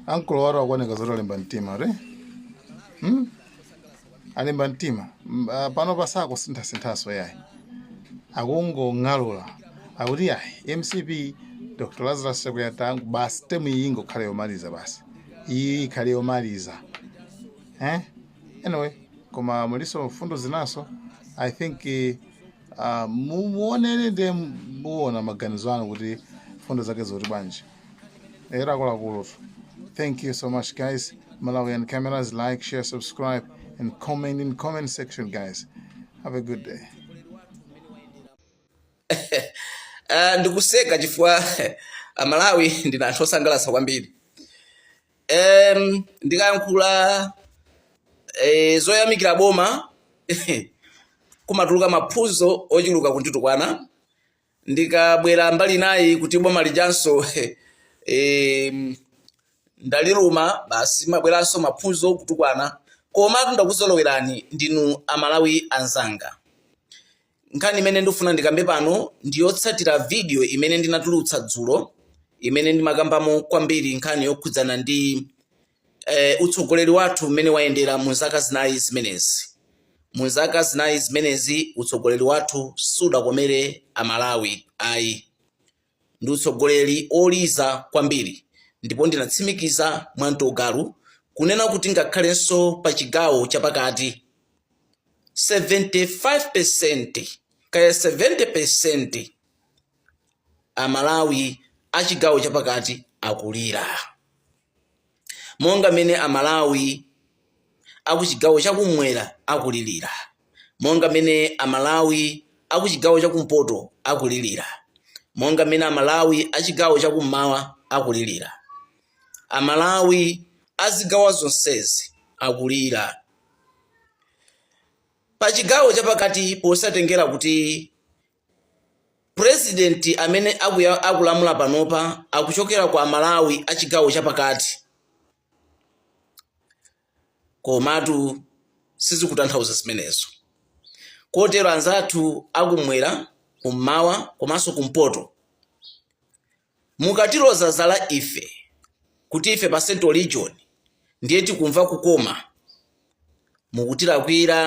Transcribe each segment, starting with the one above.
ankolo wathu akuoneka zoti alimba mtima kuti hmm? alimba mtima M- ah, pano pasakhale kusinthasinthanso yayi akungong'alula akuti yayi mcp dr lazarus chakwera tangu basi temu iyi ingokhale yomaliza basi iyi ikhale yomaliza eh? anyway koma mulinso mfundo zinanso i think eh, Ah, mu- muonene ndiye muona maganizo anu kuti mfundo zake zikuti bwanji eti akuluakulu thank you so much guys malawian cameras like share subscribe and comment in comment section guys have a good day Ah, ndikuseka chifukwa amalawi ndinu anthu osangalatsa kwambiri em ndikayankhula eh, zoyamikira boma kumatuluka maphunzo ochuluka kunditukwana ndikabwera mbali inayi kuti boma lijanso em, ndaliluma basi mabweranso maphunzo kutukwana komatu ndakuzolowerani ndinu amalawi anzanga Nkhani imene ndikufuna ndikambe pano ndi yotsatira vidiyo imene ndinatulutsa dzulo imene ndimakambamo kwambiri nkhani yokhudzana ndi eh, utsogoleri wathu mmene wayendera mu zaka zinayi zimenezi. Mu zaka zinayi zimenezi utsogoleri wathu sudakomere Amalawi ayi. Ndi utsogoleri oliza kwambiri ndipo ndinatsimikiza mwantu wagalu kunena kuti ngakhalenso pa chigawo cha pakati, 75% kaya 70% Amalawi a chigawo cha pakati akulira. monga mmene Amalawi akuchigawo chakumwera akulilira, monga mmene Amalawi akuchigawo chakumpoto akulilira, monga mmene Amalawi achigawo chakummawa akulilira. Amalawi azigawa zonsezi akulira. Pachigawo chapakati posatengera kuti President amene akulamula panopa akuchokera kwa Amalawi a chigawo cha pakati komatu sizikutanthauza zimenezo kotero anzathu akumwera, kummawa komanso kumpoto Mukatiloza zala ife kuti ife pa central region ndiye tikumva kukoma mukutilakwira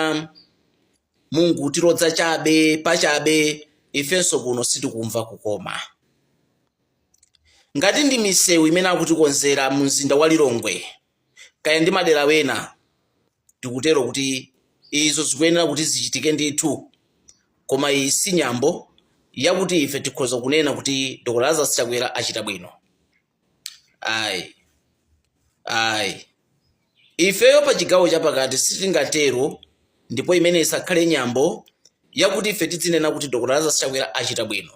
mukungotiloza chabe pachabe ifenso kuno sitikumva kukoma. Ngati ndi misewu imene akutikonzera mu mzinda wa Lilongwe kaya ndi madera ena tikutero kuti izo zikuyenera kuti zichitike ndithu, koma iyi si nyambo yakuti ife tikhoza kunena kuti Dr. Lazarus Chakwera achita bwino. Ayi, ayi, ifeyo pa chigawo chapakati sitingatero, ndipo imene isakhale nyambo yakuti ife tidzinena kuti Dr. Lazarus Chakwera achita bwino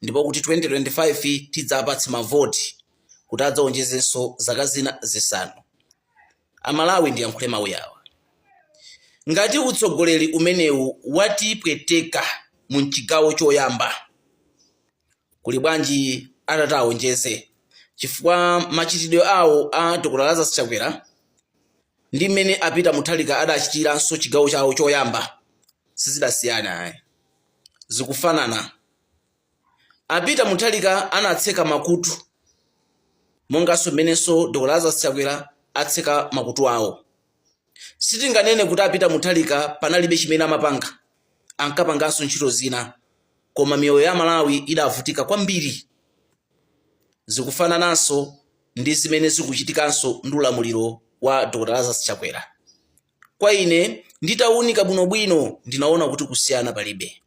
ndipo kuti 2025 tidzapatse mavoti kuti adzaonjezenso zaka zina zisanu. Amalawi ndiyankhule mau yawa ngati utsogoleri umenewu watipweteka mu chigawo choyamba kuli bwanji atata aonjeze chifukwa machitidwe awo a Dr Lazarus Chakwera ndi mmene a Peter Mutharika adachitiranso chigawo chawo choyamba sizidasiyana ayi zikufanana. A Peter Mutharika anatseka makutu monganso mmenenso Dr Lazarus Chakwera atseka makutu awo. Sitinganene kuti a Peter Mutharika panalibe chimene amapanga, ankapanganso ntchito zina koma miyoyo ya Amalawi idavutika kwambiri. Zikufanananso ndi zimene zikuchitikanso ndi ulamuliro wa Dr Lazarus Chakwera. kwa ine nditaunika bwinobwino ndinaona kuti kusiyana palibe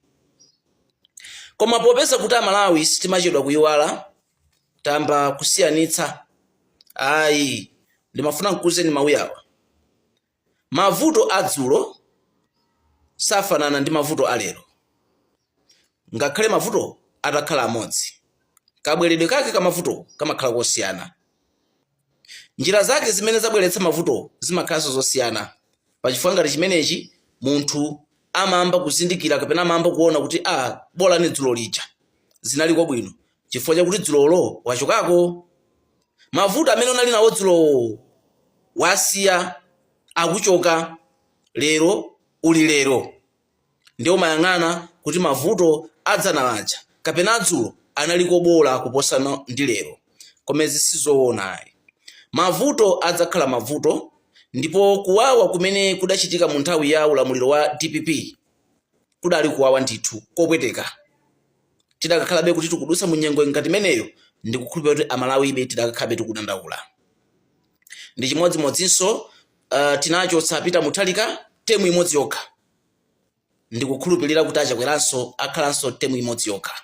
koma popeza kuti amalawi sitimachedwa kuyiwala tamba kusiyanitsa ayi ndimafuna nkuuzeni mawuyawa mavuto adzulo safanana ndi mavuto alero Ngakhale mavuto atakhala amodzi, kabweredwe kake ka mavuto kamakhala kosiyana. Njira zake zimene zabweretsa mavuto zimakhalanso zosiyana. Pa chifukwa ngati chimenechi, munthu amamba kuzindikira kapena amayamba kuona kuti a bolani dzulo lija zinaliko bwino chifukwa chakuti dzulolo wachokako. Mavuto amene unali nawo dzulowo wasiya, akuchoka. Lero uli lero. Ndiye umayang'ana kuti mavuto a dzana aja kapena a dzulo analiko bola kuposana ndi lero. Koma izi sizoona ayi. Mavuto adzakhala mavuto ndipo kuwawa kumene kudachitika mu nthawi ya ulamuliro wa dpp kudali kuwawa ndithu, kopweteka. Tidakakhalabe kuti tikudutsa mu nyengo ngati imeneyo ndikukhulupirira kuti Amalawibe tidakakhalabe tikudandaula. Ndi chimodzimodzinso uh, tinachotsa Peter Mutharika temu imodzi yokha ndikukhulupirira kuti a Chakweranso akhalanso temu imodzi yokha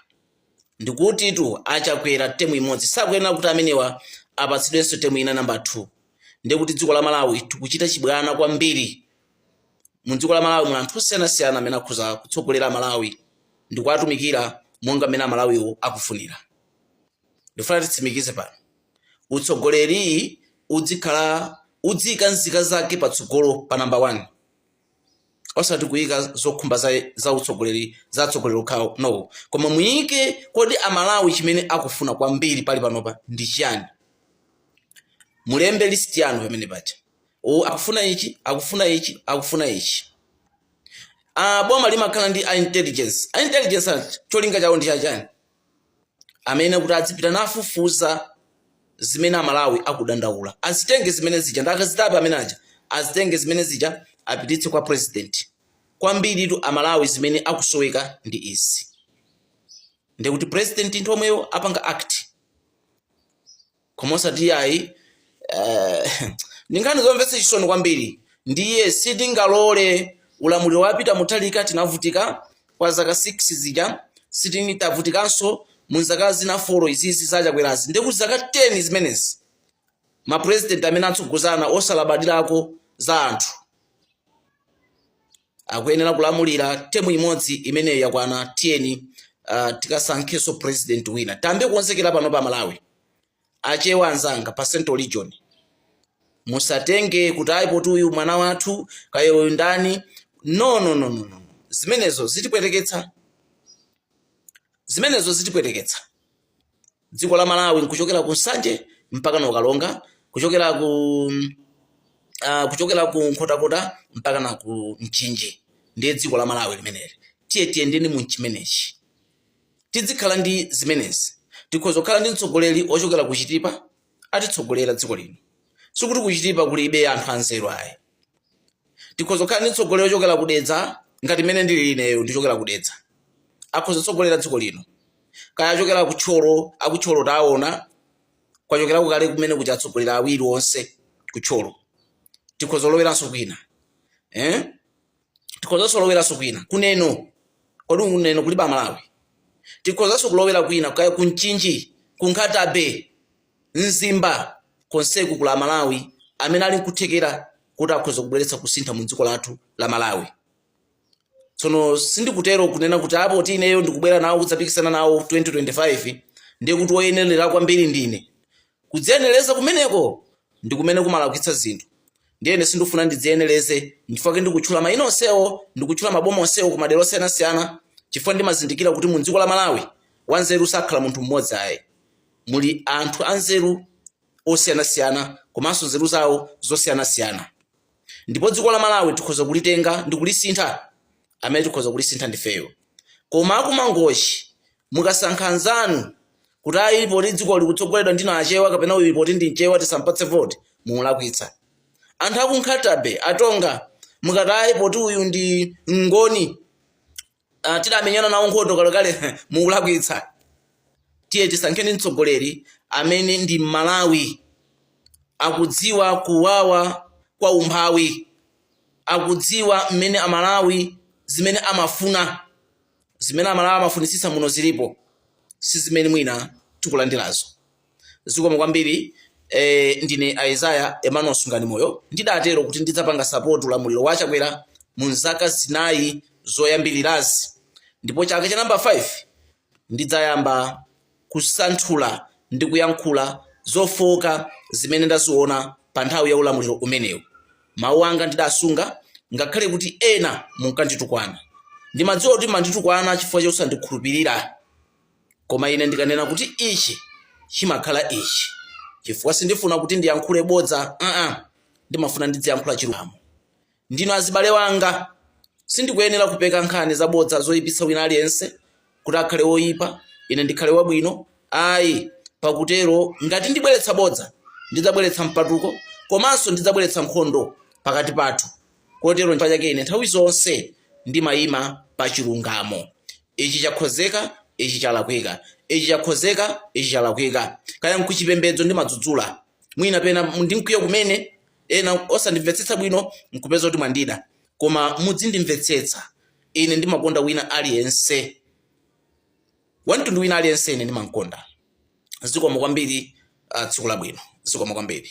ndikutitu a Chakwera temu imodzi sakuyenera kuti amenewa apatsidwenso temu ina namba 2 ndiye kuti dziko la Malawi tikuchita chibwana kwambiri mu dziko la Malawi muli anthu osiyanasiyana amene akhoza kutsogolera Malawi ndikuwatumikira monga mmene Amalawiwo akufunira ndifuna titsimikize pano utsogoleri udzikhala udziyika nzika zake patsogolo pa namba 1 osati kuyika zokhumba za, za utsogoleri za atsogoleri okhawo no koma muyike kodi amalawi chimene akufuna kwambiri pali panopa ndi chiyani mulembe list yanu pamene paja akufuna ichi akufuna ichi akufuna ichi ah, boma limakhala ndi a intelligence a intelligence cholinga chawo ndi chachani amene kuti adzipita nafufuza zimene amalawi akudandaula azitenge zimene zija ndi akazitape amene aja azitenge zimene zija apititse kwa president kwambiritu amalawi zimene akusoweka ndi izi ndikuti president nthawi yomweyo apanga act koma osati iyayi eh, ndi nkhani zomvetsa chisoni kwambiri ndiye sitingalole ulamuliro wa Peter Mutharika tinavutika kwa zaka 6 zija tsono tavutikanso mu zaka zina 4 izizi za Chakwerazi ndikuti zaka 10 zimenezi mapurezidenti amene atsogozana osalabadirako za anthu akuyenera kulamulira temu imodzi imeneyo yakwana tiyeni uh, tikasankhenso president wina tiyambe kukonzekera pano pa malawi achewa anzanga pa central region musatenge kuti ayi poti uyu mwana wathu kaya uyu ndani no no no no no zimenezo zitipweteketsa zimenezo zitipweteketsa dziko la Malawi nkuchokera ku Nsanje mpaka na ku Karonga, kuchokera ku uh, kuchokera ku Nkhotakota mpaka na ku Mchinji, ndiye dziko la Malawi limeneli. Tiye tiyendeni mu chimenechi, tidzikhala ndi zimenezi. Tikhoza kukhala ndi mtsogoleri ochokera ku Chitipa atitsogolera dziko lino, sikuti ku Chitipa kulibe anthu anzeru ayi. tikhoza kukhala ndi mtsogoleri ochokera ku dedza ngati mmene ndili ineyo ndichokera ku dedza akhoza kutsogolera dziko lino kaya achokera ku thyolo a ku thyolo taona kwachokerako kale kumene kuja atsogolera awiri onse ku thyolo tikhoza kuloweranso kwina eh? tikhozanso kuloweranso kwina kuneno kodi kuneno kulibe amalawi tikhozanso kulowera kwina kaya kumchinji kunkhata bay mzimba konseku kuli amalawi amene ali nkuthekera kuti akhoza kubweretsa kusintha mu dziko lathu la malawi tsono sindikutero kunena kuti ah poti ineyo ndikubwera nawo kudzapikisana nawo 2025 ndiye kuti woyenerera kwambiri ndine Kudziyenereza kumeneko ndi kumene kumalakwitsa zinthu. Ndiye ine sindikufuna ndidziyenereze nchifukwa chake ndikutchula mayina onsewo, ndikutchula maboma onsewo ku madera osiyanasiyana chifukwa ndimazindikira kuti mu dziko la Malawi wanzeru sakhala munthu mmodzi ayi. Muli anthu anzeru osiyanasiyana komanso nzeru zawo zosiyanasiyana ndipo dziko la Malawi tikhoza kulitenga ndi kulisintha, amene tikhoza kulisintha ndifeyo. Koma a ku Mangochi Mukasankha anzanu kuti ayi poti dziko likutsogoledwa ndi Achewa kapena uyu poti ndi Mchewa tisampatse voti, mulakwitsa. Anthu aku Nkhata-bay, a Tonga, mukati ayi poti uyu ndi Mngoni uh, tidamenyana nawo nkhondo kalekale mukulakwitsa. Tiye tisankheni mtsogoleri amene ndi Mmalawi akudziwa kuwawa kwa umphawi, akudziwa mmene Amalawi zimene amafuna. Zimene Amalawi amafunitsitsa muno zilipo si zimene mwina tikulandirazo. Zikomo kwambiri eh, ndine Isaiah Emmanuel Sunganimoyo ndidatero kuti ndidzapanga support ulamuliro wa a Chakwera mu zaka zinayi zoyambirirazi ndipo chaka cha number 5 ndidzayamba kusanthula ndi kuyankhula zofooka zimene ndaziona pa nthawi ya ulamuliro umenewu. Mawu anga ndidasunga ngakhale kuti ena munkanditukwana. Ndimadziwa kuti mmanditukwana chifukwa chosandikhulupirira. Koma ine ndikanena kuti ichi, chimakhala ichi. Chifukwa sindifuna kuti ndiyankhule bodza, aa, ndimafuna ndidziyankhula chilungamo. Ndinu azibale anga. Sindikuyenera kupeka nkhani zabodza zoipitsa wina aliyense, kuti akhale woipa, ine ndikhale wabwino. Ayi, pakutero ngati ndibweretsa bodza, ndidzabweretsa mpatuko, komanso ndidzabweretsa nkhondo pakati pathu. Kotero nchifukwa chake ine nthawi zonse ndimaima pa chilungamo. Ichi chakhozeka, ichi chalakwika. Ichi chakhozeka, ichi chalakwika. Kaya nkuchipembedzo ndimadzudzula. Mwina pena ndi mkwiyo kumene, ena osandimvetsetsa bwino nkupeza kuti mwandida koma mudzindimvetsetsa ine ndimakonda wina aliyense wamtundu wina aliyense ine ndimamkonda zikomo kwambiri uh, tsiku labwino zikomo kwambiri